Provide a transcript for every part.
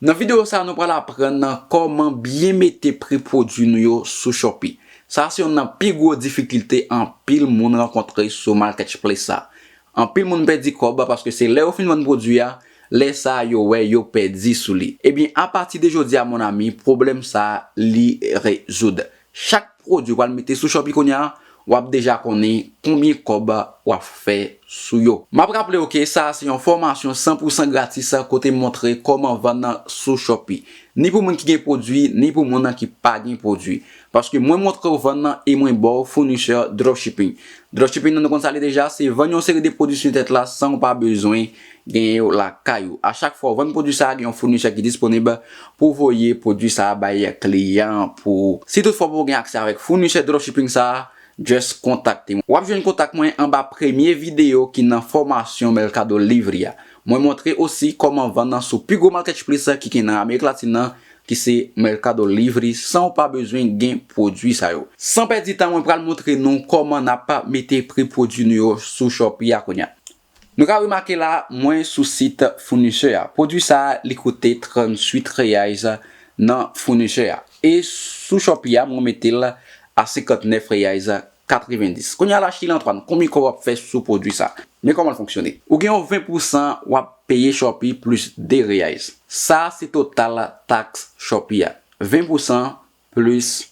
Nan video sa nou pral aprann nan kòman byen mete pri pwodwi nou yo sou Shopee. Sa se yonn nan pi gwo difikilte anpil moun rankontre sou marketchplace sa. Anpil moun pèdi kòb paske se lè yo fin vann pwodwi a, lè sa yo wè yo pèdi sou li. Ebyen apati de jodi a mon ami pwoblèm sa li rezoud. Chak pwodwi wal mete sou Shopee kounya wap deja konnen konbyen kòb wap fè sou yo. Map raplew ke sa a se yon fòmasyon san pou san gratis kote m montre kòman vann sou Shopee. Ni pou moun ki gen pwodwi ni pou moun ki pa gen pwodwi. Paske mwen montrew vann e mwen baw founisè dropshipping. Dropshipping nan nou konn sa li deja, se vann yon seri de pwodwi su entèt la sanw pa bezwen Genyen yo lakay ou. A chak fwa ou vann pwodwi sa a gen yon founisè ki disponib pou voye pwodwi sa a bay kliyan an pou ou. Si tout fwa ou poko gen aksè avèk founisè dropshipping sa a, just kontakte mwen. Wap jwenn kontak mwen anba premye videyo ki nan fòmasyon Mercado Livre a. Mwen montre osi kòman vann nan sou pi gwo marketchplice ki gen nan Amerik Latin nan ki se Mercado Livre san ou pa bezwen gen pwodwi sa yo. San pèdi tan mwen pral montre nou kòman nap mete pri pwodwi nou yo sou Shopee a kounya. Nou ka remake la mwen sou sit founisè a. Pwodwi sa a li koute 38 reais nan founisè a. E sou Shopee a mwen mete l a 59 reais 90. Kounye a la Sheila Antoine konbyen kòb wap fè sou pwodwi sa? Men kòman l fonksyone. Ou gen yon 20 pou san wap peye Shopee plis 2 reais. Sa se total taks Shopee a. 20 pou san plis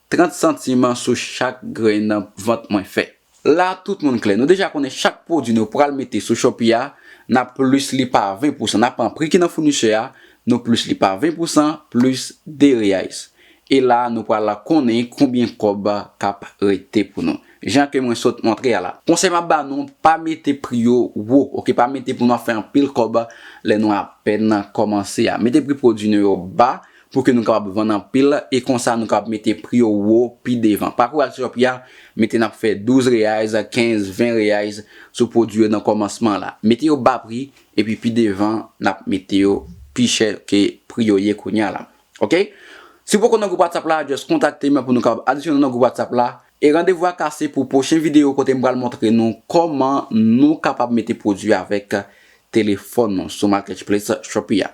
30 santim an sou chak grenn vant mwen fè. La tout moun klè, nou deja konnen chak pwodwi nou pral mete sou Shopee a, n ap plis li pa 20 pousan. N ap pran pri ki nan founisè a, nou plis li pa 20 pousan, plis 2 reais. E la nou pral konnen konbyen kòb k ap rete pou nou. Jan ke mwen sot montre a la. Konsèy m ap ba nou, pa mete pri yo wo, ok, pa mete pou nou ap fè anpil kòb lè nou apèn kòmanse a. Mete pri pwodwi nou yo ba, pou ke nou kapab vann anpil e konsa nou kapab mete pri yo wo pi devan. Pakou al Shopee a, mete n ap fè 12 reais, 15, 20 reais sou pwodui yo nan kòmansman la. Mete yo ba pri epi pi devan n ap mete yo pi chè ke pri yo ye kounya la. Ok. Si w poko nan gwoup WhatsApp la, just kontakte m pou nou kapab adisyone w nan gwoup WhatsApp la. E randevou a kase pou pwochen videyo kote m pral montre nou kòman nou kapab mete pwodui avèk telefòn nou sou marketchplace Shopee a.